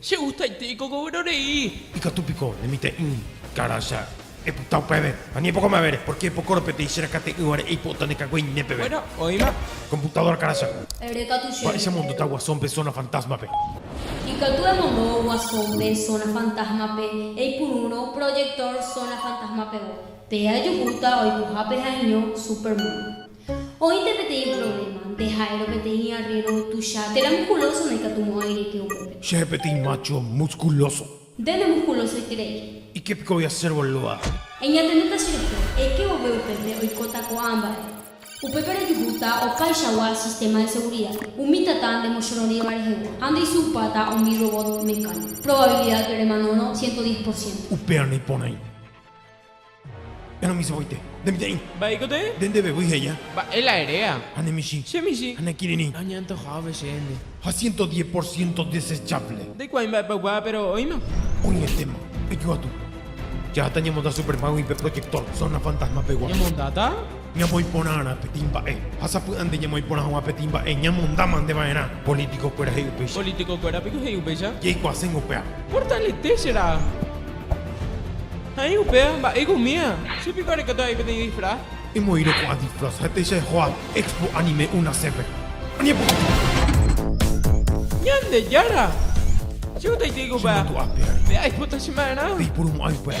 Che gustaite ikogovero rei. Ikatu piko ne mitã'i karãcha epyta upéve, ani epoko mavére, pórke epokórõ peteĩ che rakate'ỹvare eipo'ota ne kagueine peve. Bueno, oĩma. Komputadóra karãcha. Erekatu chéve. Mba'éicha emondota Guasón-pe Zona Fantasma-pe? Ikatu emondo Guasón-pe Zona Fantasma-pe, eipurúrõ proyector Zona Fantasma-pegua. Pe ajuhúta oikohápe ha'eño Superman. Oĩnte peteĩ provléma. Nde ha'érõ peteĩ arrero tuicha. Térã muskulóso ndaikatumo'ãi reke upépe. Chéve peteĩ mácho muskulóso. Nde nemuskulosoiterei. Ikea piko voi asérõ luá. Eñatendéta che reko. Eke vove upépe oikóta ko'ã mba'e. Upépe rejuhúta opaichagua sistéma de segurida. Umi tata ndemochororĩva rehegua ha ndeisupáta umi robot mecánico. Probabilidad remanórõ ciento diez por ciento. Upérõ iporãi. Enomichĩvoite. Nde mitã'i. Mba'éiko tee. Nde ndevevýi he'ia. Mba'e la eréa. Ha ne michĩ. Che michĩ. Ha ne kirirĩ. Añantojávo che ende. Ha ciento diez por ciento desechable. Ndaikuaái mba'épa oikuaa, péro oĩma. Oĩetéma. Ejoatu. Jaháta ñamonda Superman-gui pe proyector zona fantasma-pegua. Ñamondáta? Ñamoĩ porãrã peteĩ mba'e ha sapy'ánte ñamoĩ porã hag̃ua peteĩ mba'e ñamonda mante va'erã. Polítikokuéra he'i upéicha. Polítikokuéra piko he'i upéicha. Jeikuaaséngo upéva. Portalete che ra'a. Ha'e upéva mba'éiko umíva. Che piko arekóta avei peteĩ disfraz. Emoĩrõ ko'ã disfraz ha'ete che ejoa Expo Anime Unace-pe. Añepoty! Ñandejára! Che guetaiteiko upéva. Che mandu'ape ári. Pe aipota che ma'erã. Peipurumo'ãi upéva.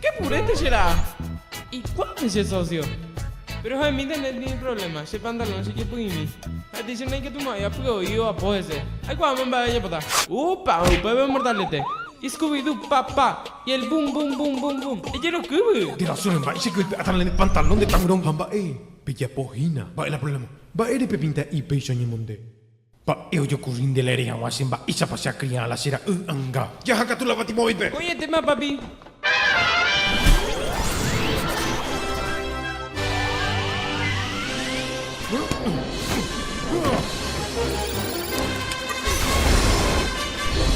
Ke purete che ra'a. Ikuápe che socio. Pero ha emi internet ndive problema, che pantalón chejepy'imi. Ha'ete che naikatumo'ãi apy'oi oapo hese. Aikuaáma mba'e ajapóta. Upa, upépe mortalete. Scooby-Doo, pa, pa, y el boom, boom, boom, boom, boom. Ejerokývy! De razón, mba'e che kypy'áta la ne pantalón de taburón. Ha mba'e pejapo hína. Mba'e la problema. Mba'ére pepinta'i péicha oñemonde. Mba'e ojokurri nde laere hag̃ua che mba'éichapa che akriã la che ra'y anga. Jaha katu la Fatimovaipe. Ko'ẽtema papi.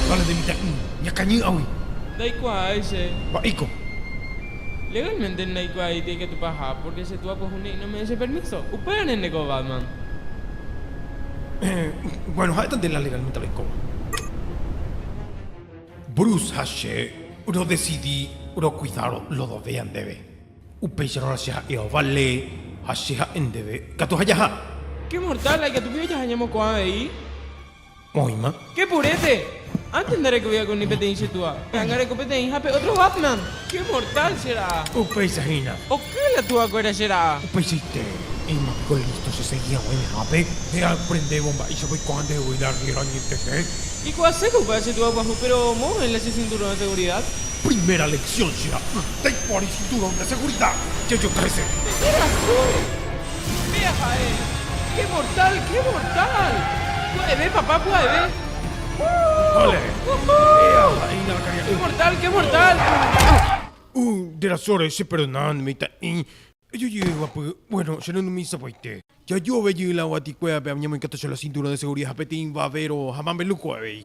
Vale nde mitã'i. Ñakañý'agui. Ndaikuaái che. Mba'éiko. Legalmente ndaikuaái ikatupa aja, pórke che túa pyahu ne'ỹ nome'ẽ che permíso. Upévare nde ko Batman. Bueno, ha'éta nde la legalmente roikóva. Bruce ha che rodesidi rokuida Lodovea ndéve. Upéicharõ che ha'e ovale ha che ha'e ndéve katu ha jaha. Qué mortal, la ikatupíva jaha ñemoko'ã avei. Oĩma. Che purete. Antes ndarekovéva con ni peteĩ che túa. Pe'anga reko peteĩ ha pe otro Batman. Che mortal che ra'a. Upéicha hína. Oky la túa kuéra che ra'a. Upeichaite. Oĩma piko listo che segui haguã ñehápe. Nde aprendévo mba'éichapa oikuaa nde voi la riera añetete. Ikuaase ko upe che túa guaju pero moõ oĩ la che cinturón de seguridad. Primera lección che ra'y. Ndaikuaári cinturón de seguridad. Che yo trece. Che rasu. Péa ha'e. Qué mortal, qué mortal. Pya'eve papá, pya'eve. Vale. Péa ha'e iñakãkaria'ỹva. Qué mortal, qué mortal. Uh, nde rasóre, cheperdonánde mitã'i. Ejojeyguapy, bueno, che renumi sapy'aite. Jajove jey la guatikue ape añemoikatu che la cinturón de seguridad ha peteĩ vavero ha mambeluco avei.